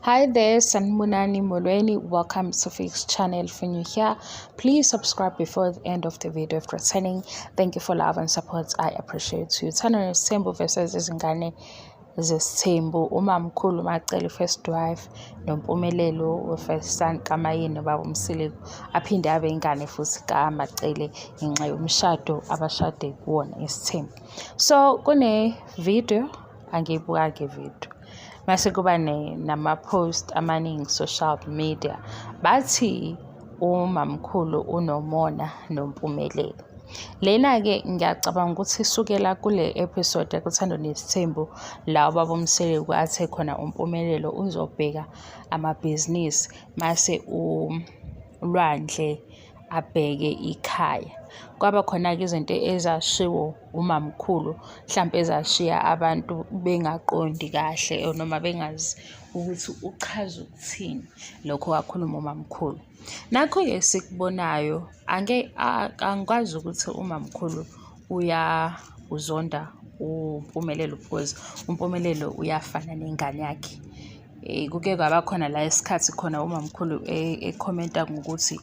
Hi there, Sanmunani Molweni. Welcome to Fix channel for new here. Please subscribe before the end of the video if returning. Thank you for love and support. I appreciate you. Turn on Sembo versus Izingane zesithembu umamkhulu macele first wife nompumelelo we-first son kamayeni baba umsiliku aphinde abe ingane futhi kamacele ngenxa yomshado abashade kuwona isithembu so kune-video angiyibuka-ke video mase kuba nama-post amaningi social media bathi umamkhulu unomona nompumelelo lena-ke ngiyacabanga ukuthi isukela kule episode yakuthando nesithembu la ubaba umseleku athe khona umpumelelo uzobheka amabhizinisi mase ulwandle abheke ikhaya. Kwaba khona-ke izinto ezashiwo umamkhulu mhlampe ezashiya abantu bengaqondi kahle or noma bengazi ukuthi uchaza ukuthini lokho kwakhuluma umamkhulu. Nakho-ke esikubonayo ake angikwazi ukuthi umamkhulu uya uzonda uMpumelelo because uMpumelelo uyafana nengane yakhe. Eh, kuke kwaba khona la isikhathi khona umamkhulu eh, ekhomenta ngokuthi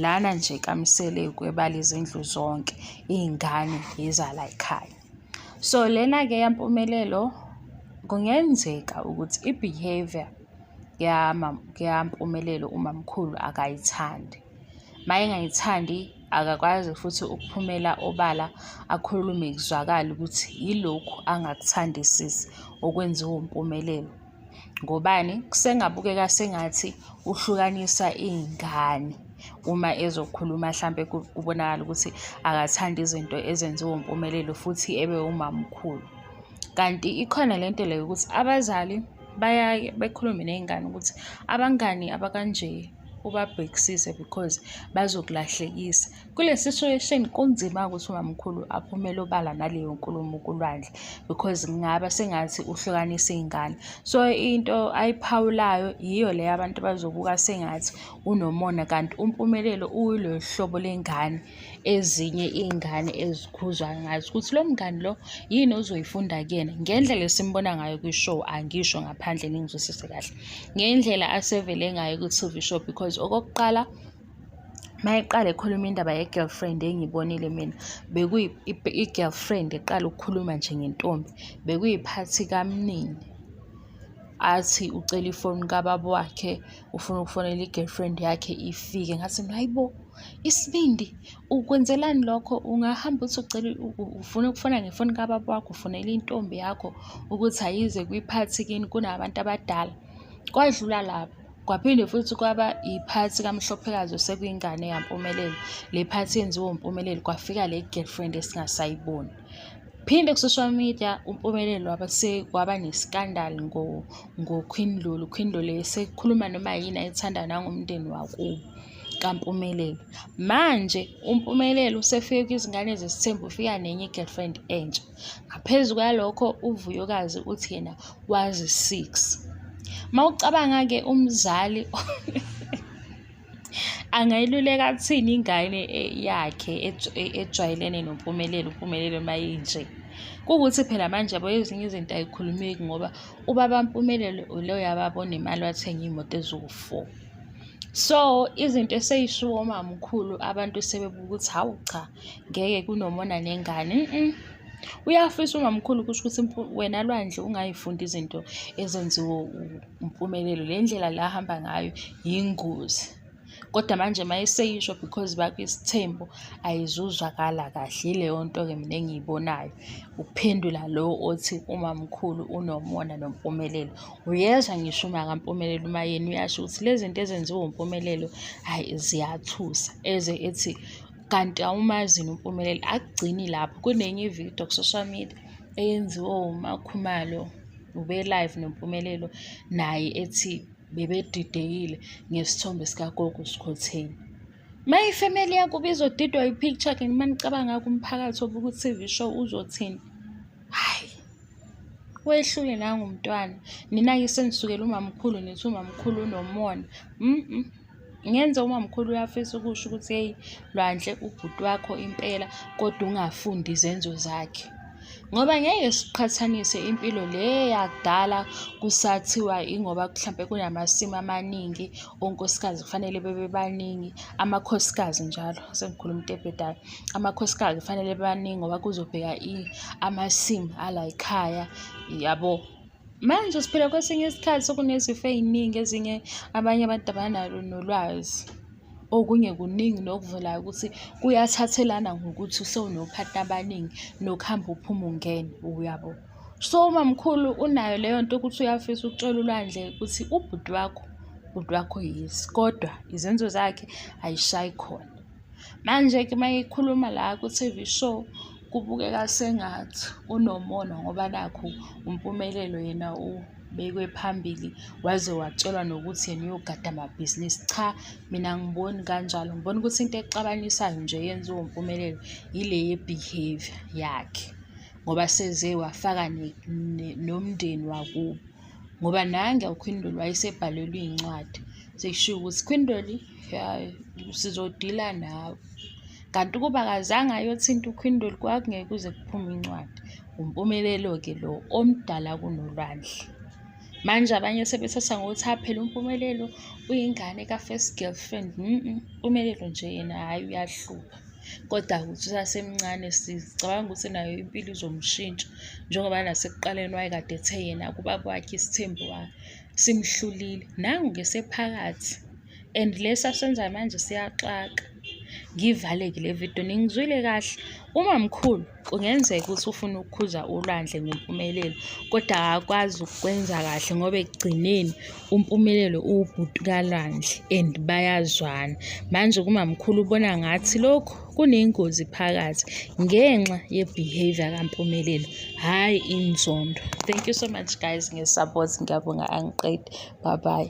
lana nje kamisele kwebala izindlu zonke iy'ngane yizala ekhaya so lena-ke yampumelelo kungenzeka ukuthi i-behavior yampumelelo umamkhulu akayithandi uma engayithandi akakwazi futhi ukuphumela obala akhulume kuzwakale ukuthi yilokhu angakuthandisisi okwenziwa umpumelelo ngobani kusengabukeka sengathi uhlukanisa iy'ngane uma ezokhuluma hlampe kubonakala ukuthi akathandi izinto ezenziwa uMpumelelo futhi ebe umamkhulu kanti ikhona le nto leyo ukuthi abazali bayaye bekhulume ney'ngane ukuthi abangani abakanje ubabhekisise because bazokulahlekisa. kule situation kunzima ukuthi umamkhulu aphumele obala naleyo nkulumo kulwandle because ngingaba sengathi uhlukanisa iy'ngane so into ayiphawulayo yiyo leyo abantu bazobuka sengathi unomona kanti umpumelelo uyilolu hlobo lengane ezinye iy'ngane ezikhuzwa ngazo ukuthi lo mngani lo yini ozoyifunda kuyena ngendlela esimbona ngayo kwi-show angisho ngaphandle ningizwisise kahle ngendlela asevele ngayo kwi-tv show because okokuqala mayeqala ekhuluma indaba ye-girlfriend engiyibonile mina bekuyi-girlfriend eqala ukukhuluma nje ngentombi bekuyiphathi kamnini athi ucela ifoni kababa wakhe ufuna ukufonela i-girlfriend yakhe ifike ngathi mina hayibo isibindi ukwenzelani lokho ungahamba uthi ucela ufuna ukufona ngefoni kababa wakho ufonela intombi yakho ukuthi ayize kwiphathi kini kunabantu abadala kwadlula lapho Kwaphinde futhi kwaba iphathi kaMhlophekazi osekuyingane yaMpumelelo. Le phathi yenziwa uMpumelelo kwafika le girlfriend esingasayiboni. Phinde ku-social media uMpumelelo waba sekwaba ne-scandal ngoQueen Lulu. UQueen Lulu esekhuluma noma yini ayithanda nangomndeni wakubo kaMpumelelo. Manje uMpumelelo usefike kwizingane zesithembu ufika nenye i-girlfriend entsha. Ngaphezu kwalokho uVuyokazi uthi yena wazi six. Uma ucabanga-ke umzali angayiluleka athini ingane eh, yakhe eh, ejwayelene noMpumelelo, uMpumelelo uma inje. Kuwukuthi phela manje yabo ezinye izinto ay'khulumeki ngoba ubaba Mpumelelo ilo yababona imali wathenga iy'moto eziwu-four. So izinto esey'shiwo umamkhulu abantu sebebuka ukuthi hawu cha. ngeke kunomona nengane mm. uyafisa ungamkhulu kusho ukuthi wena lwandle ungayifundi izinto ezenziwe umpumelelo le ndlela la hamba ngayo yingozi kodwa manje uma eseyisho because bakho isithembu ayizuzwakala kahle yileyo nto-ke mina engiyibonayo ukuphendula lo othi umamkhulu unomona nompumelelo uyezwa ngisho uma kampumelelo uma yena uyasho ukuthi lezi zinto ezenziwa umpumelelo hhayi ziyathusa eze ethi kanti awumazi nompumelelo akugcini lapho kunenye ividiyo ku-social media eyenziwe umakhumalo ube-live nompumelelo naye ethi bebedidekile ngesithombe sikagogo sikhotheni uma ifemeli yakuba izodidwa i-picture ke nima nicabanga kumphakathi obuka u-tv show uzothini hhayi wehlule nangumntwana nina-ke senisukela umamkhulu nithi umamkhulu unomona mm, -mm. ngenze umamkhulu uyafisa ukusho ukuthi heyi lwandle ubhuti wakho impela kodwa ungafundi izenzo zakhe ngoba ngeke siqhathanise impilo le yakudala kusathiwa ingoba mhlampe kunamasimu amaningi onkosikazi kufanele bebe baningi amakhosikazi njalo sengikhuluma into ebhedayo amakhosikazi kufanele baningi ngoba kuzobheka amasimu alayikhaya yabo Manje siphila kwesinye isikhathi sokunezifo ey'ningi ezinye abanye abantu abanalo nolwazi. Okunye kuningi nokuvelayo ukuthi kuyathathelana ngokuthi sewunophathi abaningi nokuhamba uphuma ungena, uyabo. So umamkhulu unayo leyo nto ukuthi uyafisa ukutshela ulwandle ukuthi ubhuti wakho, ubhuti wakho yes, kodwa izenzo zakhe ayishayi khona. Manje-ke uma ekhuluma la ku-T_V show kubukeka sengathi unomona ngoba nakhu uMpumelelo yena ubekwe phambili waze watshelwa nokuthi yena uyogada amabhizinisi. Cha mina angiboni kanjalo, ngibona ukuthi into exabanisayo nje eyenziwa uMpumelelo yile ye-behaviour yakhe ngoba seze wafaka nomndeni wakubo ngoba nangu uKhwindoli wayesebhalelwe iy'ncwadi sekushiwo ukuthi Khwindoli. ya sizodila nawe kanti ukuba akazange ayothinta ukhwindoli kwakungeke kuze kuphume incwadi umpumelelo-ke lo omdala kunolwandle manje abanye sebethatha ngokuthi aphela umpumelelo uyingane ka-first girlfriend mpumelelo nje yena hhayi uyahlupha kodwa ukuthi usasemncane sicabanga ukuthi nayo impilo izomshintsha njengoba nasekuqaleni wayekade ethe yena kuba kwakhe isithembu wakhe simhlulile nangu ke sephakathi and lesi asenzayo manje siyaxaka ngivaleke le video ningizwile kahle uma mkhulu kungenzeka ukuthi ufuna ukukhuza ulwandle ngempumelelo kodwa akakwazi ukwenza kahle ngoba ekugcineni umpumelelo uwubhuti kalwandle and bayazwana manje kumamkhulu ubona ngathi lokhu kunengozi phakathi ngenxa ye-behavior kampumelelo hhayi inzondo thank you so much guys nge-support ngiyabonga angiqedi bye bye